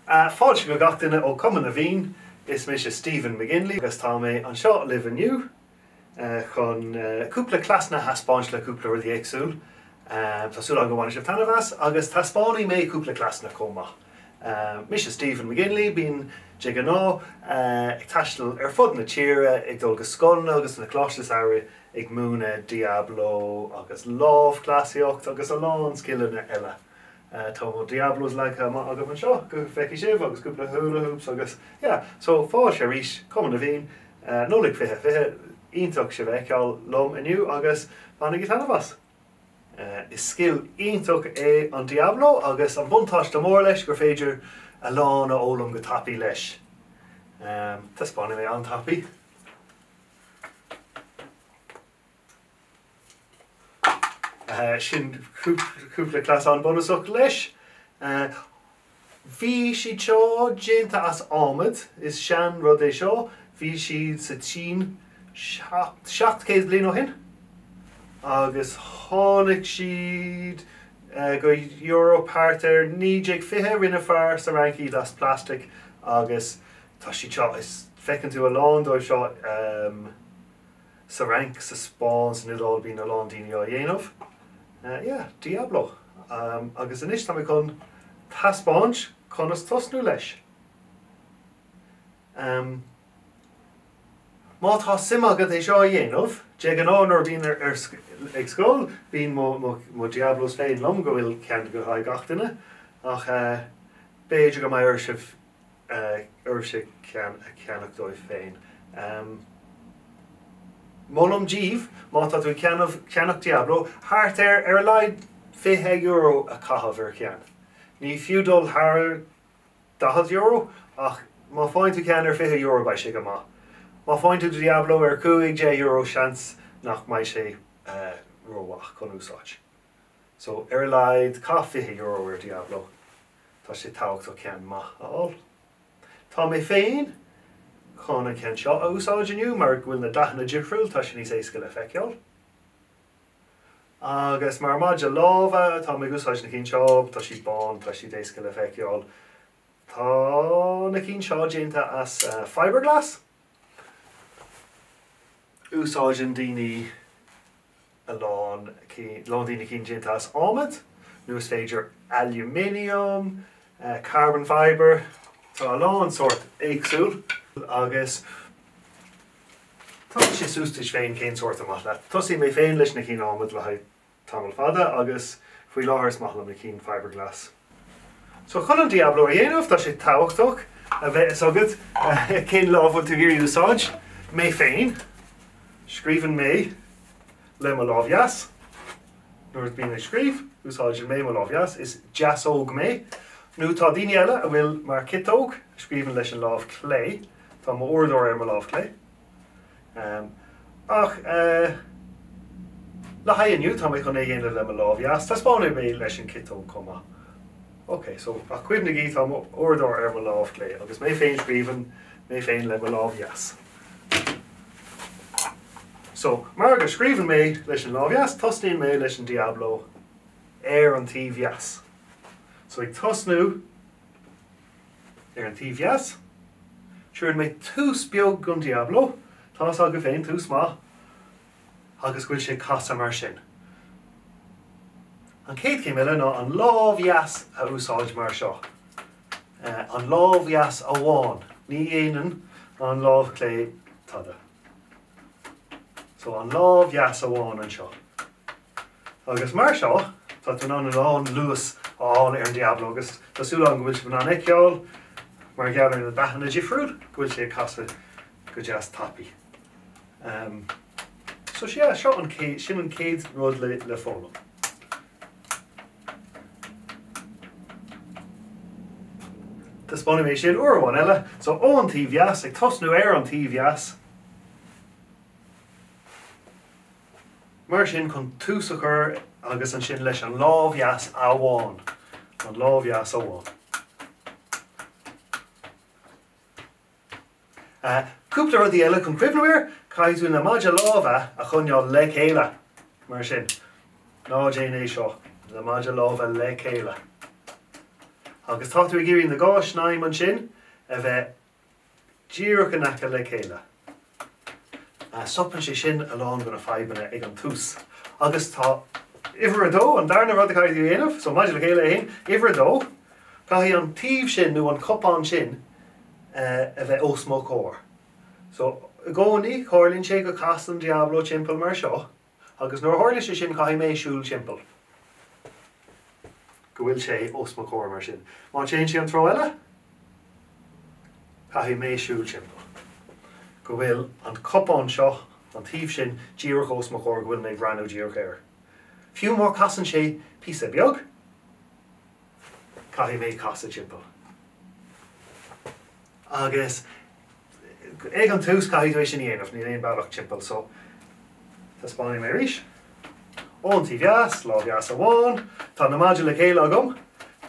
Fáilte go gach duine ó Cumann na bhFiann. Is mise Stephen McGinley agus tá mé anseo libh inniu chun cúpla cleasanna a thaispeáint le cúpla rud éagsúil. Tá súil agam go mbainfidh sibh taitneamh as agus taispeánfaidh mé cúpla cleasanna chomh maith. Mise Stephen McGinley, bím de ghnáth ag taisteal ar fud na tíre ag dul go scoileanna agus na coláiste samhraidh ag múineadh Diablo agus lámhchleasaíocht agus a lán scileanna eile. Tá mo Diablos leagtha amach agam anseo go bhfeicfidh sibh agus cúpla hula hoops agus yeah. So fáilte arís, Cumann na bhFiann, Nollaig 2020, iontach sibh a bheith ag ceangal liom inniu agus bainigí taitneamh as! Is scil iontach é an Diablo agus an buntáiste mór leis gur féidir a lán a fhoghlaim go tapaidh leis. Taispeánfaidh mé an-tapaidh. Sin cúpla cleasanna bunúsach leis. Bhí siad seo déanta as adhmad, is sean rud é seo, bhí siad sa tSín seacht céad bliain ó shin agus tháinig siad go Eoraip thart ar 1920, rinne fear sa Fhrainc iad as plastic agus Tá siad seo, is, feiceann tú a lán dóibh seo sa Fhrainc, sa Spáinn, san Iodáil, bíonn a lán daoine á dhéanamh. Yeah, Diablo. Agus anois tá mé chun taispeáint conas tosnú leis. Ahem. Má tá suim agat é seo a dhéanamh, de ghnáth nuair a bhíonn ar ag scoil, bíonn mo mo Diablos féin liom go bhfuil ceann le haghaidh gach duine ach eh b'fhéidir go mbeidh oraibh oraibhse a cheannach dóibh féin. Molaim díobh, má tá tú ag ceannach Diablo, thart ar ar a laghad €20 a chaitheamh ar cheann. Ní fiú dul thar €40 ach má faigheann tú ceann ar €20 beidh sé go maith. Má faigheann tú do Diablo ar €15 seans nach mbeidh sé rómhaith chun úsáid. So, ar a laghad caith €20 ar Diablo. Tá sé tabhachtach ceann maith a fháil. Tá mé féin chun an ceann seo a úsáid inniu mar go bhfuil na dathanna difriúil, tá sé níos éasca le feiceáil. Agus mar maide lámha tá mé ag úsáid na cinn seo, tá siad bán, tá siad éasca le feiceáil. Tá na cinn seo déanta as fibreglass. Úsáideann daoine a lán daoine cinn déanta as adhmad, nó is féidir aluminium, carbon fibre, tá a lán sórt éagsúil agus tá sé suas duit féin cén sórt is maith leat. Thosaigh mé féin leis na cinn adhmad le haghaidh tamall fada agus faoi láthair is maith liom na cinn fibreglass. So chun an Diablo a dhéanamh tá sé tábhachtach a bheith fhios agat cén lámh bhfuil tú ag iarraidh úsáid. Mé féin, scríobhann mé le mo lámh dheas. Nuair a bím ag scríobh, úsáideann mé mo lámh dheas. Is deasóg mé. Nó tá daoine eile a bhfuil mar ciotóg, a scríobhann leis an lámh chlé. Tá m'uaireadóir ar mo lámh chlé. Ach le haghaidh inniu, tá mé chun é a dhéanamh le mo lámh dheas. Taispeánfaidh mé leis an ciotóg chomh maith. Ok, so, ach cuimhnigí, tá m'uaireadóir ar mo lámh chlé agus mé féin scríobhann mé féin le mo lámh dheas. So, mar go scríobhann mé leis an lámh dheas, tosnaíonn mé leis an Diablo ar an taobh dheas. So, ag tosnú Ar an taobh dheas, Tugann mé tús beag gon Diablo, tá's agaibh féin, tús maith, agus go bhfuil sé ag casadh mar sin. An chéad chéim eile ná an lámh dheas a úsáid mar seo, an lámh dheas amháin, ní dhéanann an lámh chlé tada. So an lámh dheas amháin anseo. Agus mar seo, tá tú in ann a lán luas a fháil ar an Diablo agus tá súil agam go bhfuil sibh in ann é a fheiceáil, mar gheall ar na dathanna difriúil, go bhfuil sé ag casadh go deas tapaidh. Ehm. So sea, seo an céad, sin an chéad rud le, le foghlaim. Taispeánfaidh mé sin uair eile. So ón taobh dheas, ag tosnú ar an taobh dheas. Mar sin, chun tús a chur agus ansin leis an lámh dheas amháin, an lámh dheas amháin. Cúpla rudaí eile chun cuimhneamh air, caithfidh tú na maidí láimhe a choinneáil le chéile, mar sin. Ná déan é seo, na maidí láimhe le chéile agus tá tú ag iarraidh na dhá shnaidhm ansin a bheith díreach in aice le chéile. Stopann sé sin a lán go na fadhbanna ag an tús agus uimhir a dó, an darna rud a chaithfidh tú a dhéanamh, so maidí le chéile a haon, uimhir a dó, caithfidh an taobh sin nó an cupán sin a bheith os mo chomhair. So i gcónaí, tarlaíonn sé go casann Diablo timpeall mar seo. Agus nuair a tharlaíonn sé sin, caithfidh mé siúl timpeall go bhfuil sé os mo chomhair mar sin. Má théann sé an treo eile, caithfidh mé siúl timpeall go bhfuil an cupán seo, an taobh sin, díreach os mo chomhair, go bhfuil mé ag breathnú díreach air. Fiú má chasann sé píosa beag, caithfidh mé casadh timpeall. Agus ag an tús caithfidh tú é sin a dhéanamh, níl aon bealach timpeall so. Taispeánfaidh mé arís. Ón taobh dheas, lámh dheas amháin, tá na maidí le chéile agam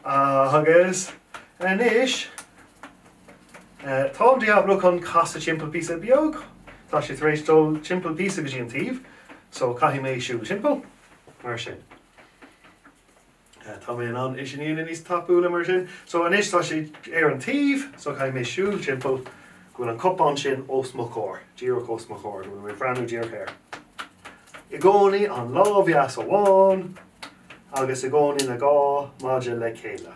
agus anois tá an diabhló chun casadh timpeall píosa beag. Tá sé tar éis dul timpeall píosa go dtí an taobh so caithfidh mé siúl timpeall mar sin. Tá mé in ann é sin a dhéanamh níos tapúla mar sin. So anois tá sé ar an taobh, so caithfidh mé siúl timpeall go bhfuil an cupán sin os mo chomhair, díreach os mo chomhair, go bhfuil mé breathnú díreach air. I gcónaí an lámh dheas amháin agus i gcónaí na dhá maide le chéile.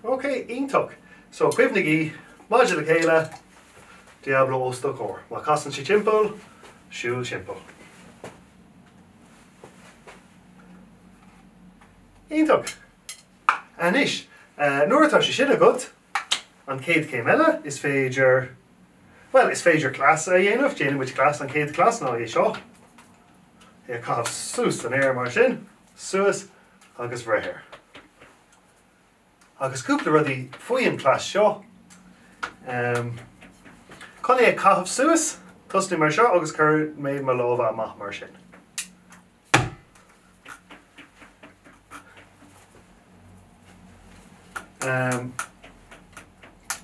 Ok, iontach. So cuimhnigí, maidí le chéile, diabhló os do chomhair. Má casann sé timpeall, siúl timpeall. Iontach. Anois, nuair atá sé sin agat, an chéad chéim eile, is féidir, bhuel, is féidir cleas a dhéanamh, déanann muid cleas, an chéad chleas ná é seo, é a chaitheamh suas san aer mar sin, suas agus bhreith air. Agus cúpla rudaí faoi an cleas seo, chun é a chaitheamh suas, tosnaigh mar seo agus cuirfidh mé mo lámha amach mar sin.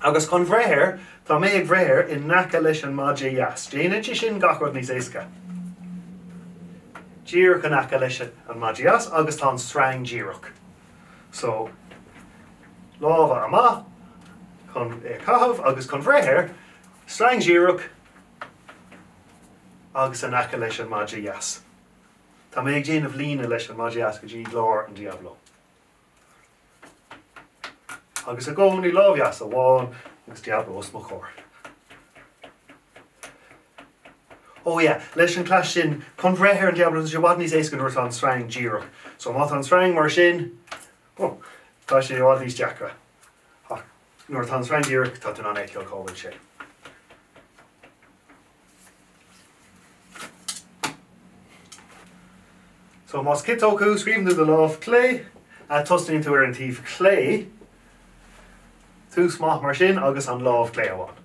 Agus chun bhreith air, Tá mé ag breith air in aice leis an maide dheas. Déanann sé sin gach rud níos éasca. Díreach in aice leis an maide dheas agus tá an sreang díreach. So, lámha amach chun é a chaitheamh agus chun bhreith air, sreang díreach, agus in aice leis an maide dheas. Tá mé ag déanamh líne leis an maide dheas go dtí lár an diabhló. Agus i gcónaí lámh dheas amháin agus diabhló os mo chomhair. Ó yeah, leis an cleas sin, chun breith ar an diabhló tá sé i bhfad níos éasca nuair atá an sreang díreach. So má tá an sreang mar sin, oh, tá sé i bhfad níos deacra. Ach Nuair atá an sreang díreach, tá tú in ann a fheiceáil cá bhfuil sé. So más ciotóg thú, scríobhann tú do lámh clé, tosnaíonn tú ar an taobh clé, tús maith mar sin agus an lámh clé amháin.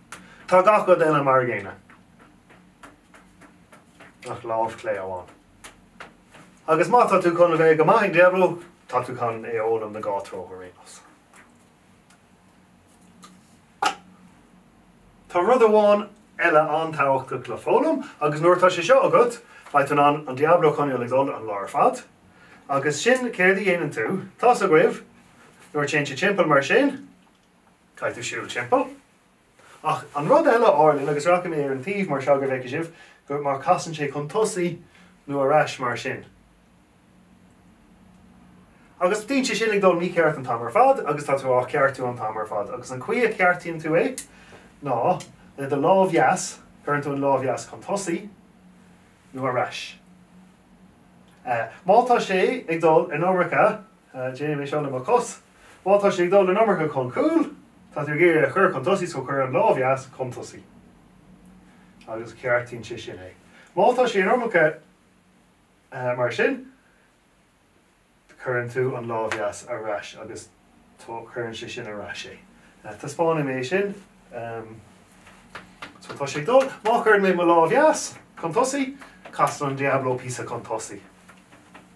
Tá gach rud eile mar an gcéanna ach lámh clé amháin. Agus má tá tú chun a bheith go maith ag Diablo, tá tú chun é a fhoghlaim na dhá treo ar aon nós. Tá rud amháin eile an-tábhachtach le foghlaim agus nuair atá sé seo agat, beidh tú in ann an Diablo a choinneáil ag dul an lá ar fad. Agus sin céard a dhéanann tú, tá's agaibh, nuair a téann sé timpeall mar sin, caithfidh tú siúl timpeall. Ach an rud eile a tharlaíonn, agus rachaidh mé ar an taobh mar seo go bhfeicfidh sibh, go mar casann sé chun tosaigh nó ar ais mar sin. Agus bíonn sé sin ag dul mícheart an t-am ar fad agus tá tú á cheartú an t-am ar fad. Agus an chaoi a cheartaíonn tú é ná le do lámh dheas, cuireann tú an lámh dheas chun tosaigh nó ar ais. Má tá sé ag dul an iomarca Déanfaidh mé seo le mo chos. Má tá sé ag dul an iomarca chun cúil, tá tú ag iarraidh a chur chun tosaigh, so cuir an lámh dheas chun tosaigh agus ceartaíonn sé sin é. Má tá sé an iomarca mar sin, cuireann tú an lámh dheas ar ais agus cuireann sé sin ar ais é. Taispeánfaidh mé é sin. So tá sé ag dul. Má chuireann mé mo lámh dheas chun tosaigh, casann an Diablo píosa chun tosaigh.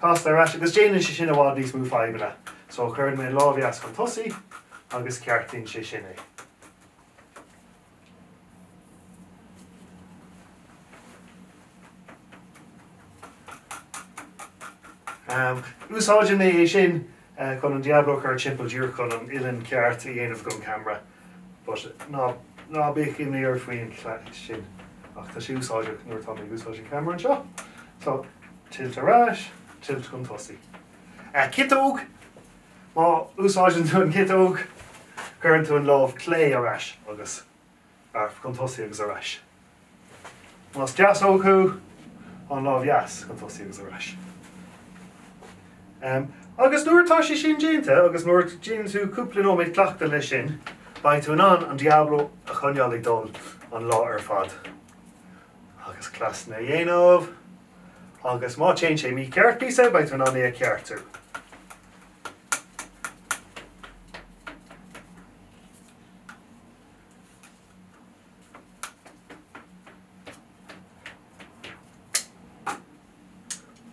casta ar ais agus déanann sé sin i bhfad níos mó fadhbanna. So cuireann mé an lámh dheas chun tosaigh agus ceartaíonn sé sin é. Um, úsáideann mé é sin Eh, chun an Diablo a chur timpeall díreach chun an uillinn cheart a dhéanamh don camera. But ná, ná bíodh imní ort faoin chleas sin. Ach tá sé úsáideach nuair atá mé ag úsáid an camera anseo. So, tilt ar ais, tilt chun tosaigh. Eh, ciotóg! Má úsáideann tú an ciotóg, cuireann tú an lámh clé ar ais agus ar chun tosaigh agus ar ais. Más deasóg thú, an lámh dheas chun tosaigh agus ar ais. Agus nuair atá sé sin déanta agus nuair a dhéanann tú cúpla nóiméad cleachtaidh leis sin, beidh tú in ann an Diablo a choinneáil ag dul an lá ar fad. Agus cleasanna a dhéanamh, agus má téann sé mícheart píosa, beidh tú in ann é a cheartú.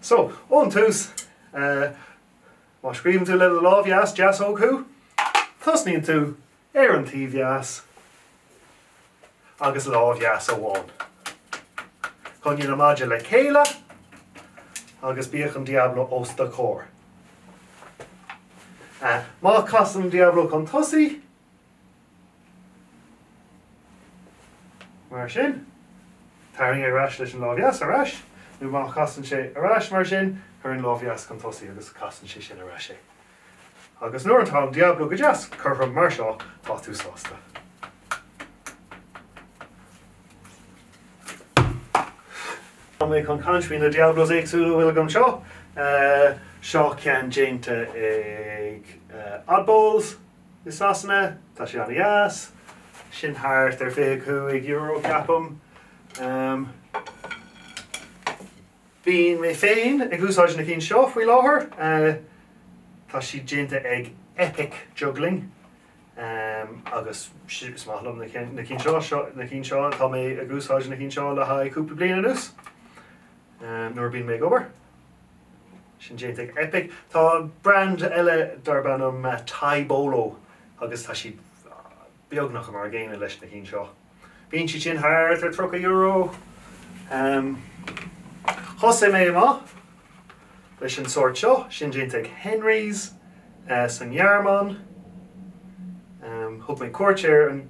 So, ón tús, má scríobhann tú le do lámh dheas, deasóg thú, tosnaíonn tú ar an taobh dheas agus lámh dheas amháin. Coinnigh na maidí le chéile agus bíodh an Diablo os do chomhair. Má chasann an Diablo chun tosaigh, Mar sin, tarraing é ar ais leis an lámh dheas ar ais, nó má chasann sé ar ais mar sin, cuir an lámh dheas chun tosaigh agus casann sé sin ar ais é. Agus nuair atá an Diablo go deas cothrom mar seo, tá tú sásta. Tá mé chun caint faoi na Diablos éagsúla a bhfuil agam anseo. Eh, seo ceann déanta ag eh, Oddballs i Sasana, tá sé an-deas. Sin thart ar €25 ceapaim. Bíonn mé féin ag úsáid na cinn seo faoi láthair. Tá siad déanta ag Epic Juggling agus is maith liom na cinn seo. Tá mé ag úsáid na cinn seo le haghaidh cúpla bliain anuas nuair a bíonn mé ag obair. Sin déanta ag Epic. Tá brand eile darb ainm Taibolo agus tá siad beagnach mar a gcéanna leis na cinn seo. Bíonn siad sin thart ar €30. Thosaigh mé amach leis an sórt seo, sin déanta ag Henry's sa Ghearmáin. Thug mé cuairt ar an.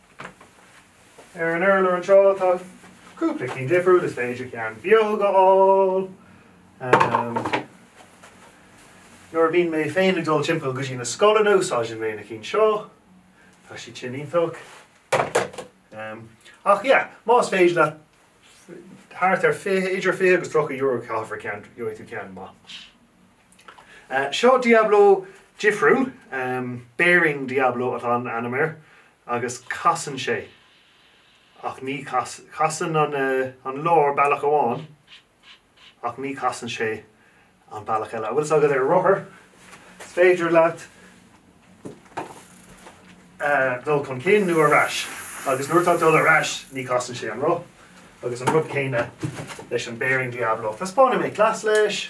Ar an urlár anseo tá cúpla ceann difriúil, is féidir ceann beag a fháil. Nuair a bhíonn mé féin ag dul timpeall go dtí na scoileanna úsáideann mé na cinn seo, tá siad sin iontach. Ach yeah, más féidir leat thart ar idir €20 agus €30 a chaitheamh ar cheann, gheobhaidh tú ceann maith. Seo Diablo difriúil, bearing Diablo atá an ainm air, agus casann sé, ach ní casann an lár bealach amháin, ach ní casann sé an bealach eile. An bhfuil fhios agat ar rothar, is féidir leat dul chun cinn nó ar ais, agus nuair atá dul ar ais, ní casann sé an roth, agus an rud céanna leis an bearing Diablo. Taispeánfaidh mé cleas leis.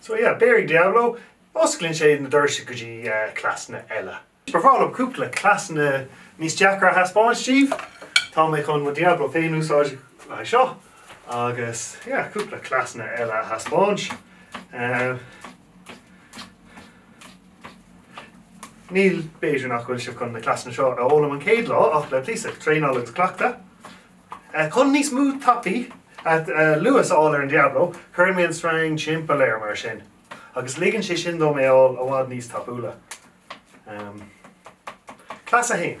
So yeah, Beairic Diablo, osclaíonn sé na doirse go dtí cleasanna eile. Ba bhreá liom cúpla cleasanna níos deacra a thaispeáint daoibh. Tá mé chun mo Diablo féin úsáid le haghaidh seo agus yeah, cúpla cleasanna eile a thaispeáint. Now, b'fhéidir nach bhfuil sibh chun na cleasanna seo a fhoghlaim an céad lá ach le píosa traenála agus cleachtadh Chun níos mó tapaí luas a fháil ar an Diablo, cuireann mé an string timpeall air mar sin agus ligeann sé sin dom é a fháil i bhfad níos tapúla. Cleas 1.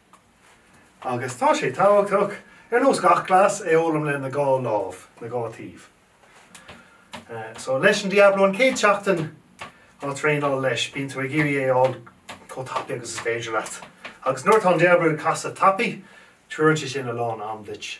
Agus tá sé tabhachtach, ar nós gach cleas, é a fhoghlaim le na dhá lámh, na dhá taobh. So, leis an Diablo an céad seachtain á thraenáil leis, bíonn tú ag iarraidh é a fháil chomh tapaidh agus is féidir leat. Agus nuair atá an Diablo ag casadh tapaidh, tugann sé sin a lán am duit.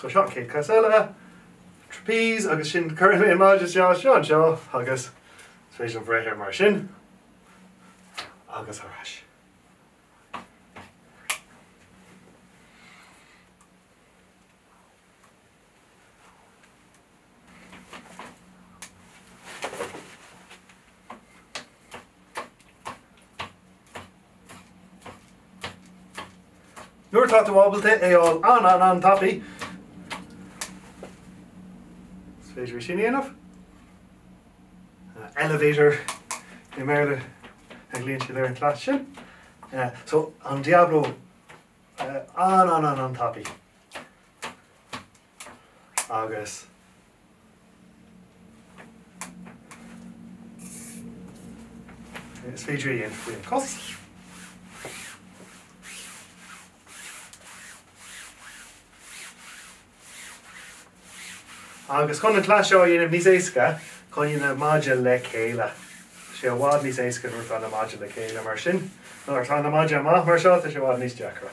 So seo an céad cleas eile, trapeze, agus sin cuireann mé an maide seo anseo agus is féidir liom breith ar mar sin agus ar ais. Nuair atá tú ábalta é a fháil an-an-an tapaidh, is féidir é sin a dhéanamh. Elevator i mBéarla a ghlaonn siad ar an cleas sin. So, an Diablo an-an-an-an tapaidh. agus is féidir é a dhéanamh faoin cos. Agus chun an cleas seo a dhéanamh níos éasca, coinnigh na maide le chéile. Tá sé i bhfad níos éasca nuair atá na maide le chéile mar sin. Nuair atá na maide amach mar seo, tá sé i bhfad níos deacra.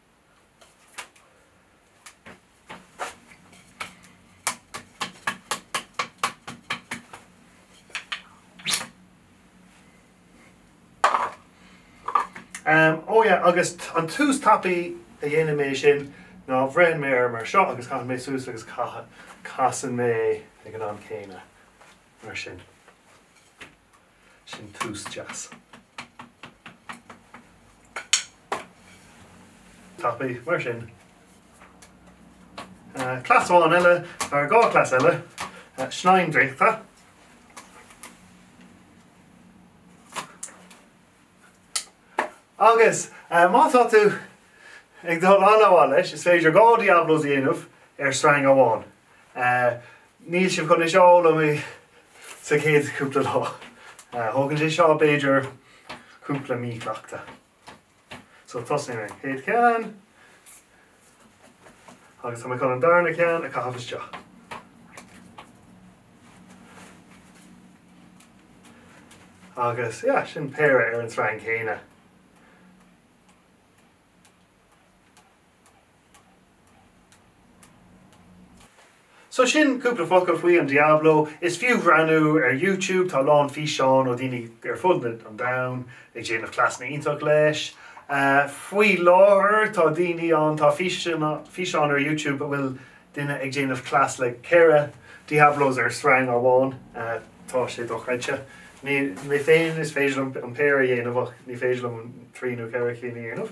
Am, Ó yeah, agus an tús tapaidh a dhéanann mé sin ná beireann mé air mar seo agus caitheann mé suas agus caithfidh, casann mé ag an am céanna mar sin. sin tús deas. Tapaidh, mar sin. Cleas amháin eile, or dhá chleas eile, snaidhm draíochta. Agus má tá tú ag dul an-mhaith leis, is féidir dhá Diablos a dhéanamh ar sreang amháin. Níl sibh chun é seo a fhoghlaim sa chéad chúpla lá. Tógann sé seo b'fhéidir cúpla mí cleachta. So tosaím ar an chéad cheann agus tá mé chun an darna ceann a chaitheamh isteach. Agus yeah, sin péire ar an tsreang chéanna. So sin cúpla focal faoi an Diablo. Is fiú bhreathnú ar YouTube, tá a lán físeán ó dhaoine ar fud an domhain ag déanamh cleasanna iontach leis. Faoi láthair tá daoine ann, tá físeán ar YouTube a bhfuil duine ag déanamh cleas le ceithre Diablos ar sreang amháin. Tá sé dochreidte. Mé féin is féidir liom an péire a dhéanamh ach ní féidir liom trí nó ceithre cinn a dhéanamh.